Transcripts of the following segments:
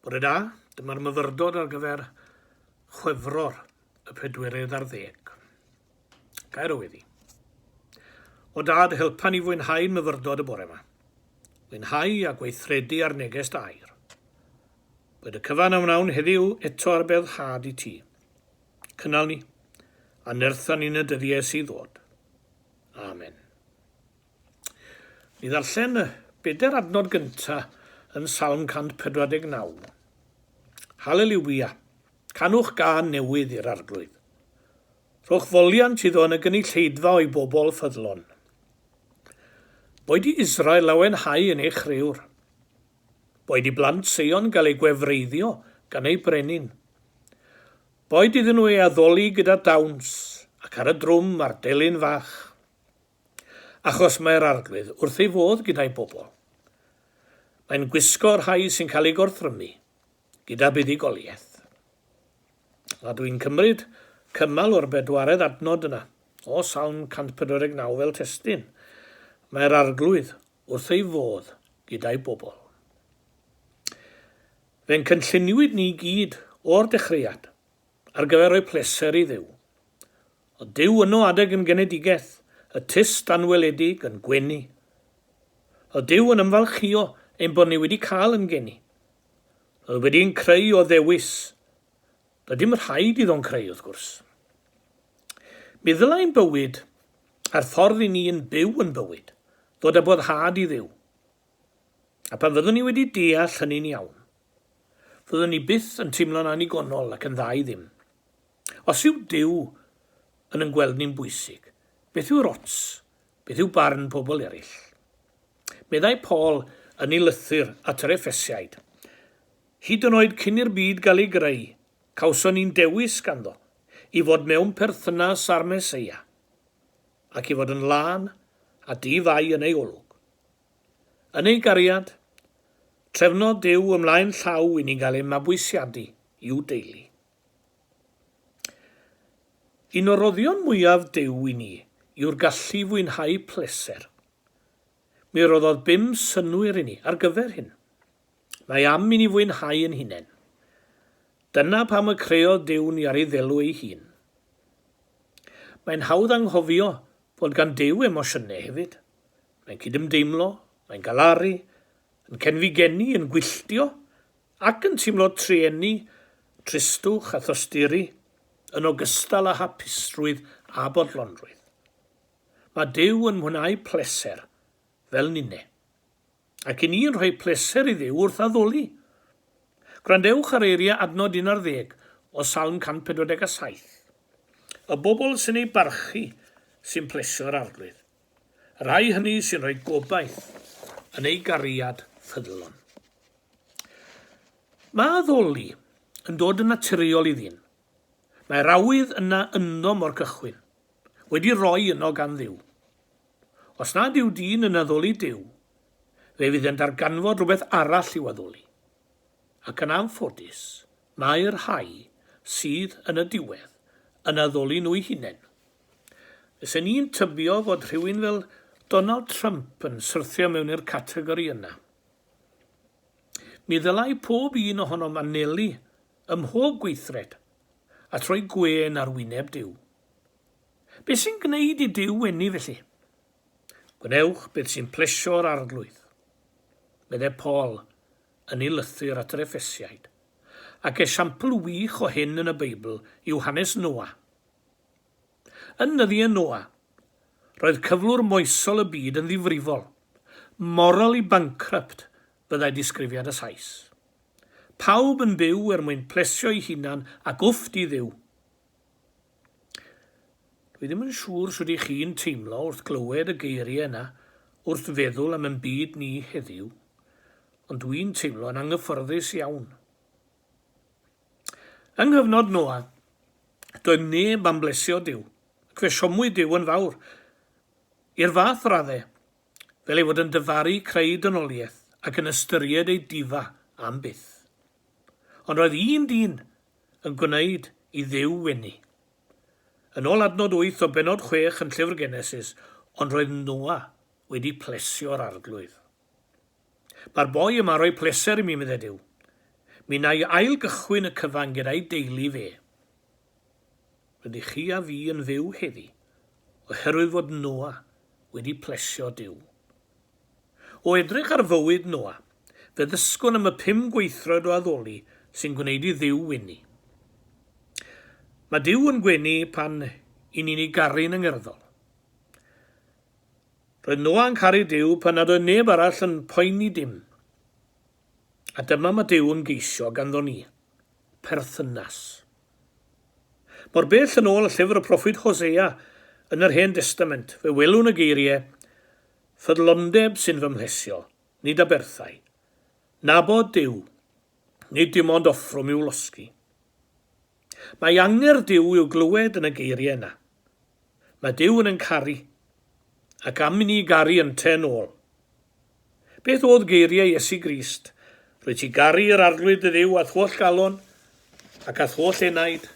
Bore da, dyma'r myfyrdod ar gyfer Chwefror y pedwerydd ar ddeg. Gair o weddi. O dad, helpa ni fwynhau'n myfyrdod y bore yma. Fwynhau a gweithredu ar neges dair. Bod y cyfan a wnawn heddiw eto ar bedd had i ti. Cynnal ni, a nertha ni'n y dyddiau sydd ddod. Amen. Ni ddarllen y bedair adnod gyntaf yn Salm 149. Haleliwia! Canwch gân newydd i'r Arglwydd. Rhowch foliant iddo yn y gynulleidfa o'i bobl ffyddlon. Boed i Israel lawenhau yn ei chriwr. Boed i blant Seion gael eu gwefreiddio gan eu brenin. Boed iddyn nhw ei addoli gyda dawns ac ar y drwm a'r delyn fach. achos mae'r Arglwydd wrth ei fodd gyda'i bobl. Mae'n gwisgo'r rhai sy'n cael eu gorthrymu gyda buddugoliaeth. A dwi'n cymryd cymal o'r bedwaredd adnod yna, o Salm 149 fel testyn, Mae'r Arglwydd wrth ei fodd gyda'i bobl. Fe'n cynlluniwyd ni gyd o'r dechreuad ar gyfer rhoi pleser i Dduw. Ond dyw yno adeg yn genedigaeth, y tyst anweledig yn gwenu. Ond dyw yn ymfalchïo ein bod ni wedi cael yn geni. Roedd wedi ein creu o ddewis. Doedd dim rhaid iddo'n creu, wrth gwrs. Mi ddylai ein bywyd, a'r ffordd i ni yn byw yn bywyd, ddod â boddhad i Dduw. A pan fyddwn ni wedi deall hynny'n iawn, fyddwn ni byth yn teimlo'n annigonol ac yn dda i ddim. Os yw Duw yn yn gweld ni'n bwysig, beth yw'r ots beth yw barn pobl eraill? Meddai Paul yn ei lythyr at yr Effesiaid, Hyd yn oed cyn i'r byd gael ei greu, cawson ni'n dewis ganddo i fod mewn perthynas â'r Meseia, ac i fod yn lân a di-fai yn ei olwg. Yn ei gariad, trefnodd Duw ymlaen llaw i ni gael ein mabwysiadu i'w deulu. Un o roddion mwyaf Duw i ni yw'r gallu fwynhau pleser. Mi roddodd bum synnwyr i ni ar gyfer hyn. Mae am i ni fwynhau ein hunain. Dyna pam y creodd Duw ni ar ei ddelw ei hun. Mae'n hawdd anghofio fod gan Duw emosiynau hefyd. Mae'n cydymdeimlo, mae'n galaru, yn cenfigennu, yn gwylltio, Ac yn teimlo trueni, tristwch a thosturi, yn ogystal â hapusrwydd a bodlonrwydd. Mae Duw yn mwynhau pleser, fel ninne. Ac i ni yn rhoi pleser i Dduw wrth addoli. Gwrandewch ar eiriau adnod 11 o Salm 147, Y bobl sy'n ei barchu sy'n plesio'r Arglwydd. Y rhai hynny sy'n rhoi gobaith yn ei gariad ffyddlon. Mae addoli yn dod yn naturiol i ddyn. Mae'r awydd yna ynddo mor cychwyn, wedi roi yno gan Dduw. Os nad yw dyn yn addoli Duw, fe fydd yn darganfod rhywbeth arall i'w addoli. Ac yn anffodus, mae'r rhai sydd yn y diwedd yn addoli nhw'u hunain. Fysen i'n tybio fod rhywun fel Donald Trump yn syrthio mewn i'r categori yna. Mi ddylai pob un ohonom anelu ym mhob gweithred at roi gwên ar wyneb Duw. Beth sy'n gwneud i Duw wenu felly? Gwnewch beth sy'n plesio'r Arglwydd, meddai Paul yn ei lythyr at yr Effesiaid, ac esiampl wych o hyn yn y Beibl yw hanes Noa. Yn nyddi y Noa, roedd cyflwr moesol y byd yn ddifrifol, morally bankrupt fyddai disgrifiad y Sais. Pawb yn byw er mwyn plesio'i hunan ac wff di Dduw! Dwi ddim yn siŵr sut i chi'n teimlo wrth glywed y geiriau yna wrth feddwl am yn byd ni heddiw, ond dwi'n teimlo yn anghyffyrddus iawn. Yng nghyfnod Noa, doedd neb am blesio Duw, ac fe siomwyd Duw yn fawr, i'r fath radde, fel ei fod yn dyfaru creu dynoliaeth ac yn ystyried ei difa am byth. Ond roedd un dyn yn gwneud i Dduw wenu. Yn ôl adnod wyth o bennod chwech yn Llyfr Genesis, Ond roedd Noa wedi plesio'r arglwydd. Mae'r boi yma'n rhoi pleser i mi, meddai Duw. Mi wna i ail-gychwyn y cyfan gyda'i deulu fe. Rydych chi a fi yn fyw heddi oherwydd fod Noa wedi plesio Duw. O edrych ar fywyd Noa, fe ddysgwn am y pum gweithred o addoli sy'n gwneud i Dduw wenu. Mae Duw yn gwenu pan i ni'n ei garu'n angerddol. Roedd Noa'n caru Duw pan nad oedd neb arall yn poeni dim. A dyma mae Duw yn geisio ganddo ni, perthynas. Mor bell yn ôl llyfr y proffwyd Hosea yn yr Hen Destament, fe welwn y geiriau, Ffyddlondeb sy'n fy mhlesio, nid aberthau. Nabod Duw, nid dim ond offrwm i'w losgi. Mae angerdd Duw i'w glywed yn y geiriau yna. Mae Duw yn yn caru, ac am i ni garu ynte yn ôl. Beth oedd geiriau Iesu Grist? Rwyt ti garu yr Arglwydd dy Dduw a'th holl galon, ac a'th holl enaid,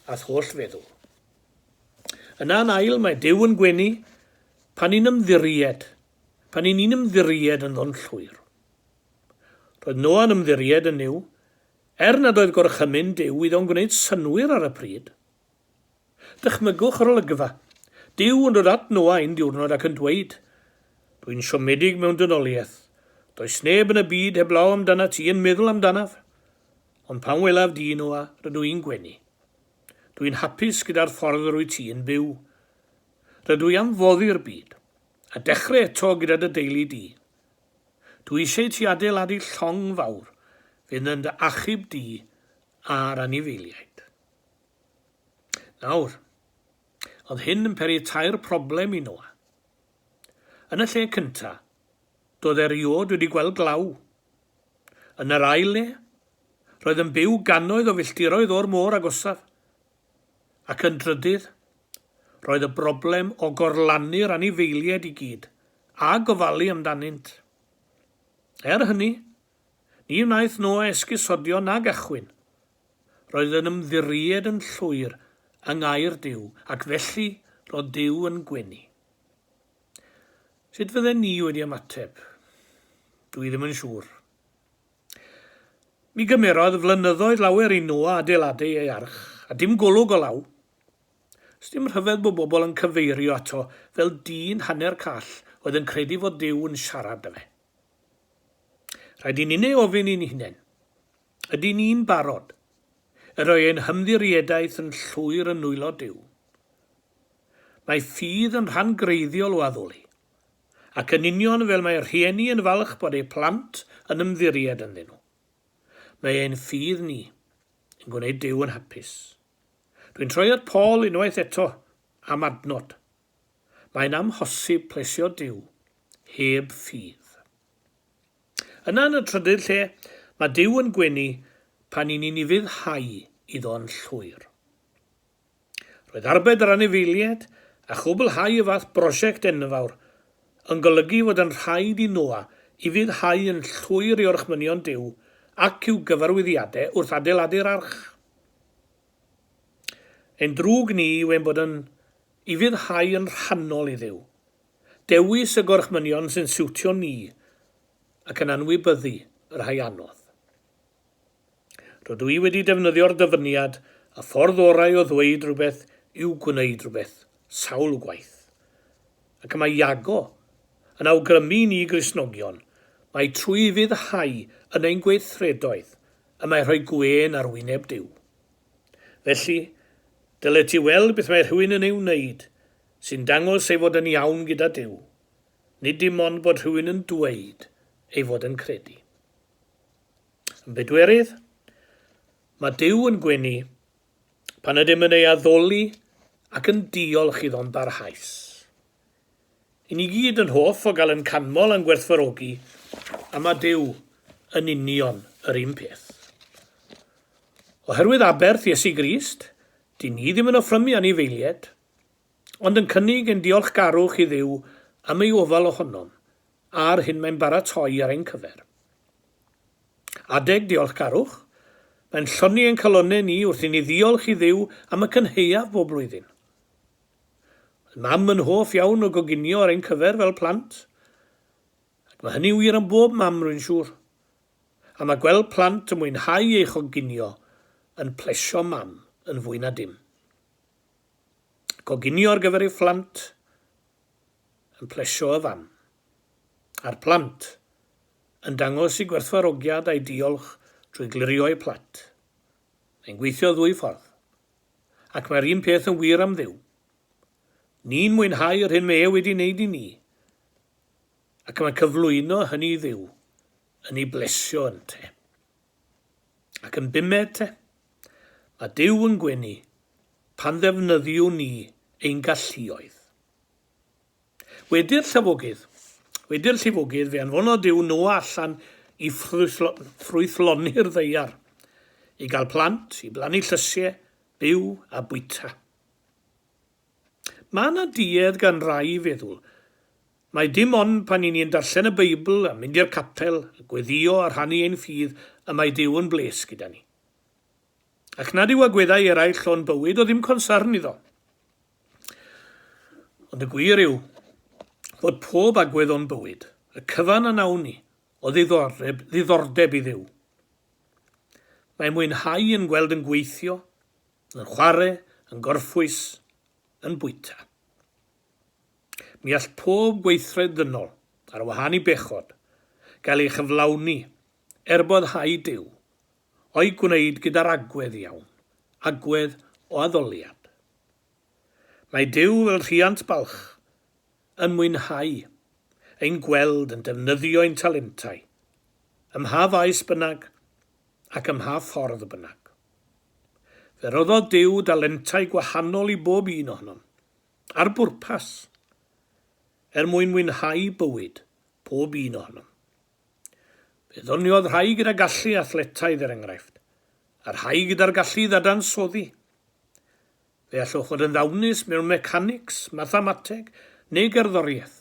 a'th holl feddwl. Yna yn ail, mae Duw yn gwenu pan ni'n ymddiried, pan ni'n ni'n ymddiried yn ddon llwyr. Roedd Noa'n ymddiried yn Nuw, er nad oedd gorchymyn Duw iddo'n gwneud synwyr ar y pryd, Dychmygwch yr olygfa, Duw yn dod at Noa un diwrnod ac yn dweud, Dw i'n siomedig mewn dynoliaeth. Does neb yn y byd heblaw amdanat ti yn meddwl amdanaf. Ond pan welaf di, Noa, rydw i'n gwenu. Dw i'n hapus gyda'r ffordd yr wyt ti'n byw. Rydw i am foddi'r byd, a dechrau eto gyda dy deulu di. Dw i eisiau i ti adeiladu llong fawr fydd yn dy achub di a'r anifeiliaid. Nawr, oedd hyn yn peri tair problem i Noa. Yn y lle cynta, doedd eriod wedi gweld glaw. Yn yr ail le, roedd yn byw gannoedd o filltiroedd o'r môr agosaf. Ac yn drydydd, roedd y broblem o gorlannu'r anifeiliaid i gyd, a gofalu amdanynt. Er hynny, Ni wnaeth Noa esgusodio nag achwyn. Roedd yn ymddiried yn llwyr yng ngair Duw, ac felly roedd Duw yn gwenu. Sut fydden ni wedi ymateb? Dw i ddim yn siŵr. Mi gymerodd flynyddoedd lawer i Noa adeiladu ei arch, a dim golwg o law. Sdim rhyfedd bod bobl yn cyfeirio ato fel dyn hanner call oedd yn credu fod Duw yn siarad 'da fe. Rhaid i ni'n ei ofyn i'n hunain, Ydyn ni'n barod i roi ein hymddiriedaeth yn llwyr yn nwylo Duw? Mae ffydd yn rhan greiddiol o addoli, ac yn union fel mae rhieni yn falch bod eu plant yn ymddiried ynddyn nhw, mae ein ffydd ni yn gwneud Duw yn hapus. Dwi'n troi at Paul unwaith eto am adnod. Mae'n amhosib plesio Duw heb ffydd. Yna yn y trydydd lle, mae Duw yn gwenu pan i ni'n ufuddhau iddo yn llwyr. Roedd arbed yr anifeiliaid a chwblhau y fath brosiect enfawr yn golygu fod yn rhaid i Noa ufuddhau yn llwyr i orchmynion Duw ac i'w gyfarwyddiadau wrth adeiladu'r arch. Ein drwg ni yw ein bod yn I fyddhau yn rhannol i Dduw. Dewis y gorchmynion sy'n siwtio ni ac yn anwybyddu y rhai anodd. Rydw i wedi defnyddio'r dyfyniad y ffordd orau o ddweud rhywbeth yw gwneud rhywbeth sawl gwaith. Ac y mae Iago yn awgrymu i ni Gristnogion mai trwy fyddhau yn ein gweithredoedd y mae rhoi gwên ar wyneb Duw. Felly, dylet ti weld beth mae rhywun yn ei wneud sy'n dangos ei fod yn iawn gyda Duw, nid dim ond bod rhywun yn dweud ei fod yn credu. Yn bedwerydd, mae Duw yn gwenu pan ydym yn ei addoli ac yn diolch iddo'n barhaus. Y ni gyd yn hoff o gael yn canmol a'n gwerthfawrogi, a mae Duw yn union yr un peth. Oherwydd aberth Iesu Grist, dyn ni ddim yn offrymu anifeilied, ond yn cynnig ein diolchgarwch i Dduw am ei ofal ohonom a'r hyn mae'n baratoi ar ein cyfer. Adeg diolchgarwch, mae'n lloni ein calonnau ni wrth i ni ddiolch i Dduw am y cynhaeaf bob blwyddyn. Mam yn hoff iawn o goginio ar ein cyfer fel plant, ac mae hynny wir am bob mam rwy'n siŵr. A mae gweld plant yn mwynhau ei choginio yn plesio mam yn fwy na dim. Coginio ar gyfer ei phlant yn plesio y fam. A'r plant yn dangos i gwerthfawrogiad a'i diolch drwy glirio'u plat. Mae'n gweithio ddwy ffordd. Ac mae'r un peth yn wir am Dduw. Ni'n mwynhau yr hyn mae e wedi wneud i ni, ac mae cyflwyno hynny i Dduw yn ei blesio ynte. Ac yn bumed te, mae Duw yn gwenu pan ddefnyddiwn ni ein galluoedd. Wedi'r llifogydd. Wedi'r llifogydd, fe anfonodd Duw Noa allan i ffrwythloni'r ddaear, i gael plant, i blannu llysiau, byw a bwyta. Mae yna duedd gan rai i feddwl mai dim ond pan i ni'n darllen y Beibl a mynd i'r capel, a gweddïo a rhannu ein ffydd y mae Duw yn bles gyda ni. Ac nad yw agweddau eraill o'n bywyd o ddim consarn iddo. Ond y gwir yw fod pob agwedd o'n bywyd, y cyfan a nawn ni, o ddiddordeb, ddiddordeb i Dduw. Mae mwynhau yn gweld yn gweithio, yn chwarae, yn gorffwys, yn bwyta. Mi all pob gweithred ddynol, ar wahân i bechod, gael ei chyflawni, er bod hau Duw, o'i gwneud gyda'r agwedd iawn, agwedd o addoliad. Mae Duw fel rhiant balch yn mwynhau ein gweld yn defnyddio ein talentau, ym mha faes bynnag ac ym mha ffordd bynnag. Fe roddodd Duw dalentau gwahanol i bob un ohonom. Ar bwrpas! Er mwyn mwynhau bywyd pob un ohonom. Fe ddoniodd rhai gyda gallu athletaidd, er enghraifft, a rhai gyda'r gallu i ddadansoddi. Fe allwch fod yn ddawnus mewn mecanics, mathemateg neu gerddoriaeth,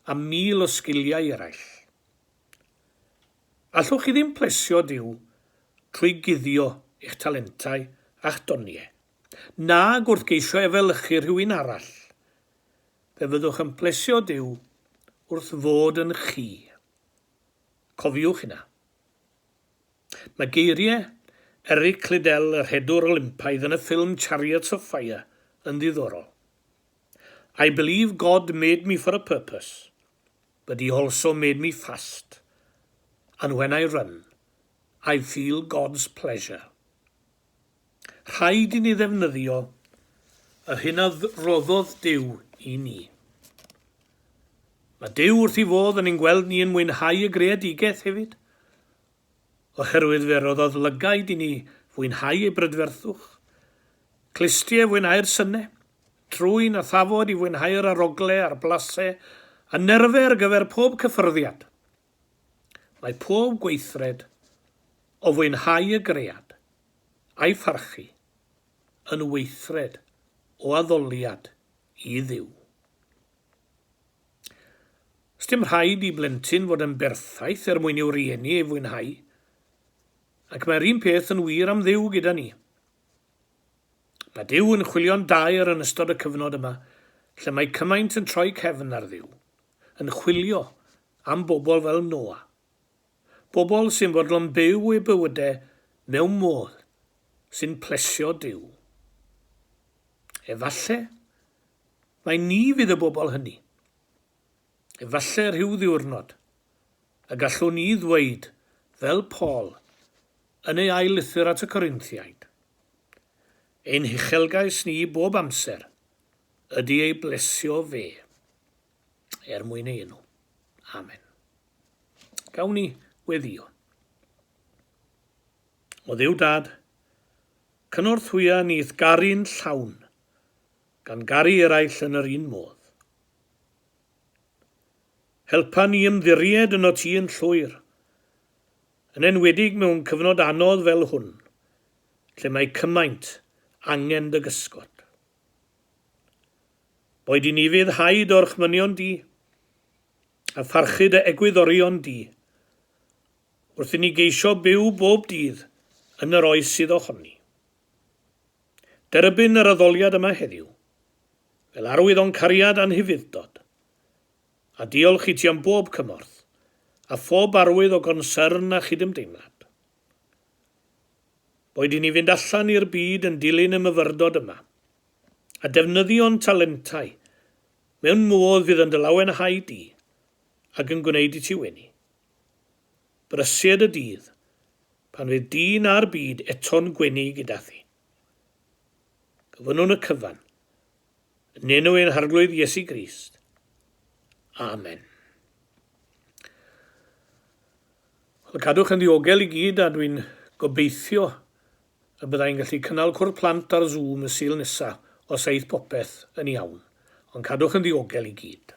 a mil o sgiliau eraill. Allwch chi ddim plesio Duw trwy guddio eich talentau a'ch doniau, nag wrth geisio efelychu rhywun arall. fe fyddwch yn plesio Duw wrth fod yn chi. Cofiwch hynna. Mae geiriau Eric Liddell, y rhedwr Olympaidd yn y ffilm Chariots of Fire yn ddiddorol. I believe God made me for a purpose, but he also made me fast, and when I run, I feel God's pleasure. Rhaid i ni ddefnyddio yr hyn a roddodd Duw i ni. Mae Duw wrth ei fodd yn ein gweld ni yn mwynhau y greadigaeth hefyd, oherwydd fe roddodd lygaid i ni fwynhau ei brydferthwch, clustie i fwynhau'r synnau, trwyn a thafod i fwynhau yr arogle a'r blasau, a nerfau ar gyfer pob cyffyrddiad. Mae pob gweithred o fwynhau y gread a'i pharchu, yn weithred o addoliad i Dduw. Sdim rhaid i blentyn fod yn berffaith er mwyn i'w rieni ei fwynhau, ac mae'r un peth yn wir am Dduw gyda ni. Mae Duw yn chwilio'n daer yn ystod y cyfnod yma, lle mae cymaint yn troi cefn ar Dduw, yn chwilio am bobl fel Noa. Pobl sy'n fodlon byw eu bywydau mewn modd sy'n plesio Duw. Efallai mai ni fydd y bobl hynny. Efallai rhyw ddiwrnod y gallwn ni ddweud fel Paul yn ei ail lythyr at y Corinthiaid, Ein huchelgais ni bob amser ydy ei blesio fe. er mwyn ei enw. Amen. Gawn ni weddio. O ddew dad, cynorthwya nith garu'n llawn, gan garu eraill yn yr un modd. Helpa ni ymddiried yno ti yn llwyr, yn enwedig mewn cyfnod anodd fel hwn, lle mae cymaint angen dy gysgod. Boed i ni fydd haid orchmynion di, a pharchu dy egwyddorion di, wrth i ni geisio byw bob dydd yn yr oes sydd ohoni. Derbyn yr addoliad yma heddiw, fel arwydd o'n cariad a'n hufuddtod, a diolch i ti am bob cymorth, a phob arwydd o gonsyrn a chydymdeimlad. Boed i ni fynd allan i'r byd yn dilyn y myfyrdod yma, a defnyddio'n talentau mewn modd fydd yn dy lawenhau di ac yn gwneud i ti wenu. Brysur y dydd pan fydd di na'r byd eto'n gwenu gyda thi. Gofynnwn y cyfan, yn enw ein Harglwydd Iesu Grist. Amen. Wel, cadwch yn ddiogel i gyd a dwi'n gobeithio y byddai'n gallu cynnal cwrdd plant ar Zoom y Sul nesa os aeth popeth yn iawn, ond cadwch yn ddiogel i gyd.